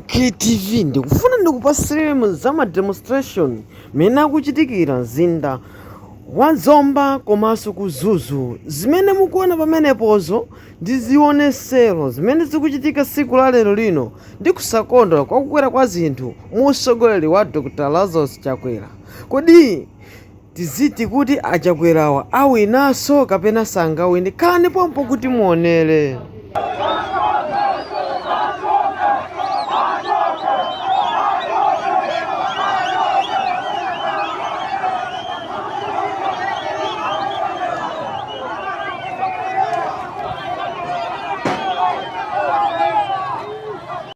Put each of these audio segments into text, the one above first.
KTV ndikufuna ndikupatsireni za ma demonstration mene akuchitikira mzinda wa Zomba komanso ku Mzuzu. Zimene mukuona pamenepozo ndi zionetsero zimene zikuchitika siku la lero lino ndi kusakondwa kwa kukwera kwa zinthu mu usogoleri wa Dr. Lazarus Chakwera. Kodi Tiziti kuti a Chakwerawa awinanso kapena sangawine? Khalani pompo kuti muonere.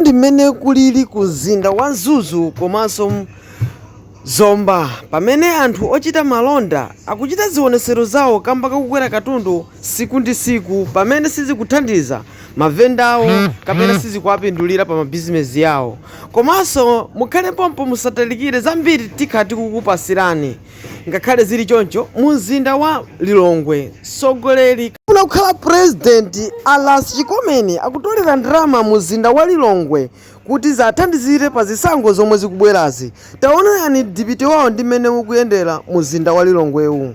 ndi mmene kulili ku mzinda wa Mzuzu komanso Zomba pamene anthu ochita malonda akuchita zionetsero zawo kamba kakukwera katundu siku ndi siku pamene sizikuthandiza mavendawo kapena sizikuwapindulira pa mabizinesi yawo. Komanso mukhale pompo musatalikire, zambiri tikhala tikukupatsirani. Ngakhale zili choncho, mu mzinda wa Lilongwe, mtsogoleri ofuna kukhala president a Ras Chikomeni akutolera ndalama mu mzinda wa Lilongwe kuti ziwathandizire pa zisankho zomwe zikubwerazi. Taonani mdipiti wawo ndi mmene ukuyendera mu mzinda wa Lilongwewu.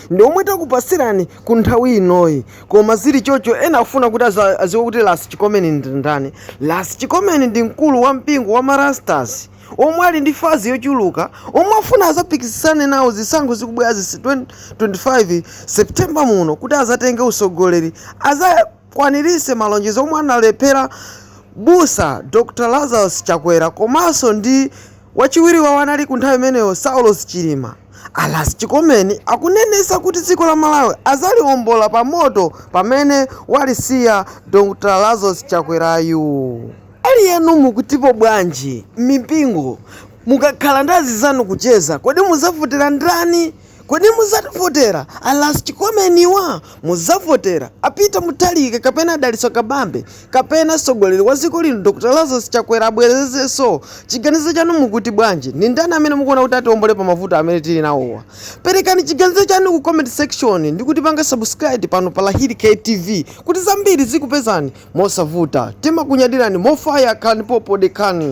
ndi omwe takupatsirani ku nthawi inoyi koma zili choncho ena afuna kuti adziwe kuti ras chikomeni ndi ndani ras chikomeni ndi mkulu wa mpingo wa marastas omwe ali ndi fanzi yochuluka omwe afuna azapikisane nawo zisankho zikubwerazi 2025 september muno kuti azatenge utsogoleri aza akwaniritse malonjezo omwe analephera Busa Dr Lazarus Chakwera komanso ndi wachiwiri wawo anali ku nthawi imeneyo Saulos Chilima, a Ras Chikomeni akunenetsa kuti dziko la Malawi adzaliombola pa moto pamene walisiya Dr Lazarus Chakwerayu. Ali yenu mukutipo bwanji? Mmipingo mukakhala ndi anzanu kucheza kodi muzavotera ndani? Kodi muzavotera a Ras Chikomeniwa? Muzavotera a Peter Mutharika kapena a Dalitso Kabambe? Kapena mtsogoleri wa dziko lino Dr Lazarus Chakwera abwerezenso? Chiganizo chanu mukuti bwanji? Ndi ndani amene mukuona kuti atiombole pa mavuto amene tili nawowa? Perekani chiganizo chanu ku comment section ndi kutipanga subscribe pano pa Lahiri K TV kuti zambiri zikupezani mosavuta. Timakunyadirani mofaya khalani pompo dekhani.